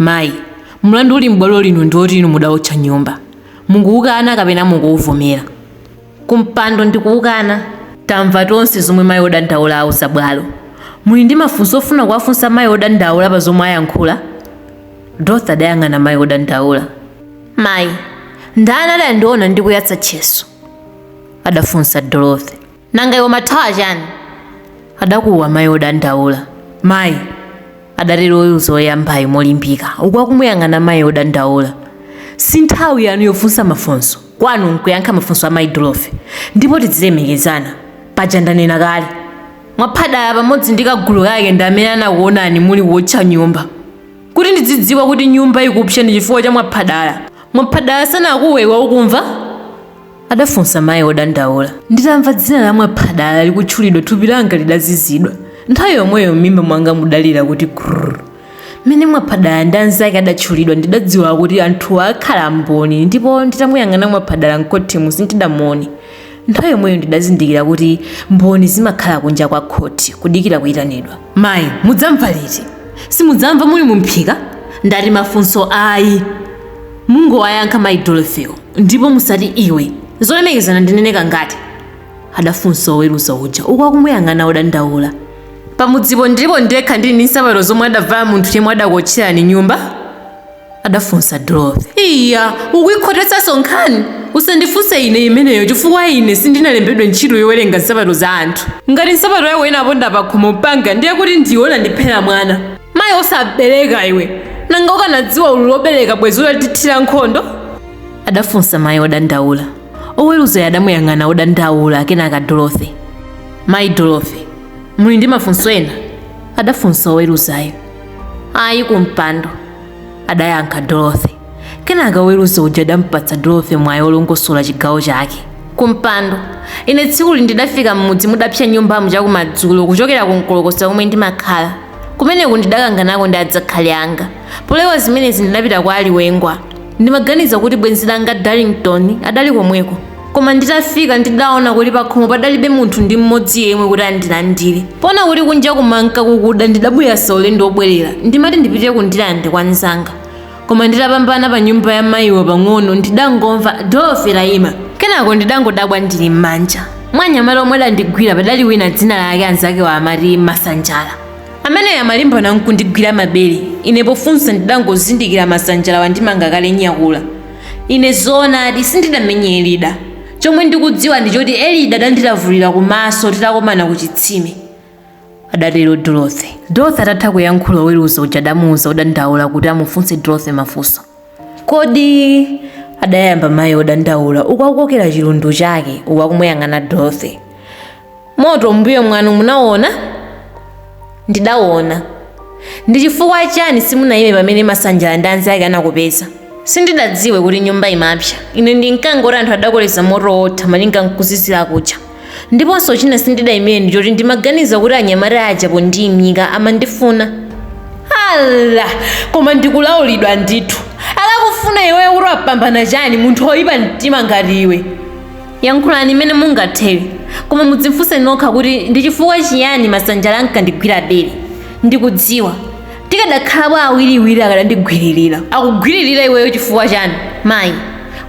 Mayi, mlandu uli m'bwalo lino ndi woti inu mudaotcha nyumba. Mukuwukana kapena mukuwuvomera? Kumpando, Ndikuwukana. Tamva tonse zomwe mayi odandaula auza bwalo. Muli ndi mafunso ofuna kuwafunsa mayi odandaula pa zomwe ayankhula? Dorothy adayang'ana mayi odandaula. Mayi, ndani adandiona ndikuyatsa tcheso? adafunsa Dorothy. nanga iwe umathawa chani adakuwa mayi odandaula mayi adatero oweruza oyambayo molimbika uku akumuyang'ana mayi odandaula si nthawi yanu yofunsa mafunso kwanu nkuyankha mafunso a mayi dorothy ndipo tidzilemekezana paja ndanena kale mwaphadala pamodzi ndi kagulu kake ndi amene anakuonani muli kuotcha nyumba kuti ndidzidziwa kuti nyumba ikupsa ndi chifukwa cha mwaphadala mwaphadala sanakuwe iwe ukumva adafunsa mayi odandaula nditamva dzina la mwaphadala likutchulidwa thupi langa lidazizidwa nthawi yomweyo m'mimba mwanga mudalira kuti grrr mmene mwaphadala ndi anzake adatchulidwa ndidadziwa kuti anthuwo akhala mboni ndipo nditamuyang'ana mwaphadala m'khotimo sindidamuone nthawi yomweyo ndidazindikira kuti mboni zimakhala kunja kwa khoti kudikira kuyitanidwa mayi mudzamva liti simudzamva muli mumphika ndati mafunso ayi mungowayankha mayi dorothywo ndipo musati iwe zolemekezana ndinene kangati adafunsa oweruza uja uku akumuyang'ana odandaula pamudzipo ndilipo ndekha ndili ndi nsapato zomwe adavala munthu yemwe adakuotcherani nyumba adafunsa dorothy iya ukuyikhotetsanso nkhani usandifunse ine imeneyo chifukwa ine sindinalembedwe ntchito yowerenga nsapato za anthu ngati nsapato yako inaponda pakhomo panga ndiye kuti ndiona ndiphera mwana mayi osabereka iwe nanga ukanadziwa ululu wobereka bwezi utatithira nkhondo adafunsa mayi odandaula oweruzayo adamuyang'ana odandaula kenaka dorothy mayi dorothy muli ndi mafunso ena adafunsa oweruzayo ayi kumpando adayankha dorothy kenaka oweruza uja adampatsa dorothy mwayi wolongosola chigawo chake kumpando ine tsikuli ndidafika m'mudzi mudapsa nyumbamu chakumadzulo kuchokera ku mkolokosa komwe ndimakhala kumeneku ndidakanganako ndi adzakhali anga polewa zimenezi ndidapita kwa aliwengwa ndimaganiza kuti bwenzi langa darlington adali komweko koma nditafika ndidaona kuti pakhomo padalibe munthu ndi mmodzi yemwe kuti andilandire poona kuti kunja kumanka kukuda ndidabwereza ulendo wobwerera ndimati ndipitire ku ndirande kwa mnzanga koma nditapambana pa nyumba ya mayiwo pang'ono ndidangomva dorothy taima kenako ndidangodabwa ndili m'manja mwa anyamata omwe adandigwira padali wina dzina lake anzakewo amati masanjala ameneyo amalimbana nkundigwira mabere ine pofunsa ndidangozindikira masanjala wandimanga kale nyakula ine zoonadi sindidamenye elida chomwe ndikudziwa ndi choti elida adandilavulira kumaso titakomana ku chitsime adatero Dorothy. Dorothy atatha kuyankhula oweruza uja adamuuza odandaula kuti amufunse Dorothy mafunso. Kodi adayamba mayi odandaula uku akukokera chilundu chake uku akumuyang'ana Dorothy. Moto mbuyo mwanu munawona? Ndidawona. Ndi chifukwa chani simunayime pamene Masanjala ndi anzake anakupeza? Sindidadziwe kuti nyumba imapsa. Ine ndinkangoti anthu adakoleza moto wotha malinga nkuzizira kuja. Ndiponso china sindidaimire ndi choti ndimaganiza kuti anyamata aja pondiimika amandifuna. Ala! Koma ndikulaulidwa ndithu. Akakufuna iweyo kuti wapambana chani munthu woipa mtima ngati iwe? Yankhulani mmene mungathere, koma mudzifunse nokha kuti ndi chifukwa chiyani Masanjala ankandigwira bere. Ndikudziwa. tikadakhalapo awiriwiri akadandigwiririra akugwiririra iweyo chifukwa chani mayi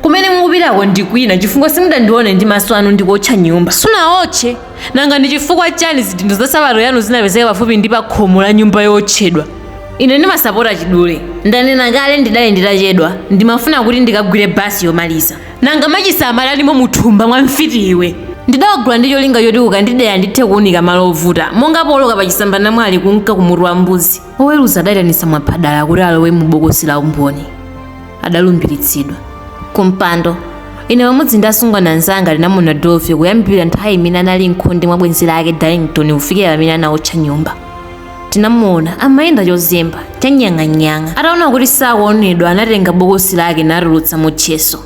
kumene mukupitako ndi kwina chifukwa simudandione ndi maso anu ndikuotcha nyumba sunaotche nanga ndi chifukwa chani zidindo za sapato yanu zinapezeka pafupi ndi pa khomo la nyumba yootchedwa ine ndimasapota chidule ndanena kale ndidali nditachedwa ndimafuna kuti ndikagwire basi yomaliza nanga machisa amatanimo muthumba mwa mfiti iwe ndidawagula ndi cholinga choti kukandidera ndithe kuunika malo ovuta monga pooloka pa chisambanamwali kunka kumutu wa mbuzi oweruza adayitanitsa mwaphadala kuti alowe mu bokosi la umboni adalumbiritsidwa kumpando ine pamodzi ndi asungwana anzanga tinamuona dorothy kuyambira nthawi imene anali mkhonde mwa bwenzi lake darlington kufikira pamene anaotcha nyumba tinamuona amayenda chozemba chanyang'anyang'a ataona kuti sakuonedwa anatenga bokosi lake natulutsamo tcheso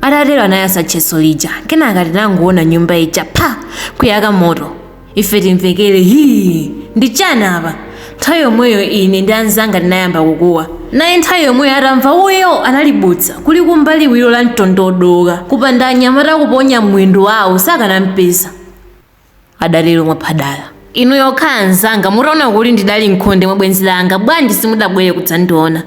atatero anayasa tcheso lija kenaka tinangoona nyumba ija pha kuyaka moto ife timvekere hii ndi chani apa nthawi yomweyo ine ndi anzanga tinayamba kukuwa naye nthawi yomweyo atamva uyo analibutsa kulikumba liwiro la mtondodoka kupanda anyamata kuponya mwendo wawo sakanampeza adatero mwaphadala inu pokhala anzanga mutaona kuti ndidali mkhonde mwa bwenzi langa bwanji simudabwere kudzandiona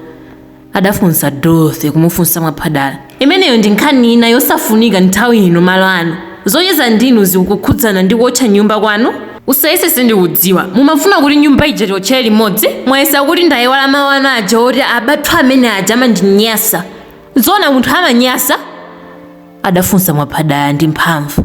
adafunsa dorothy kumufunsa mwaphadala imeneyo ndi nkhani ina yosafunika nthawi ino malo ano zocheza ndinu zikukhudzana ndi kuotcha nyumba kwanu usayese sindikudziwa mumafuna kuti nyumba ija tiotchere limodzi mwayesa kuti ndayiwala mawu anu aja oti abathu amene aja amandinyasa zoona munthu amanyasa adafunsa mwaphadala ndi mphamvu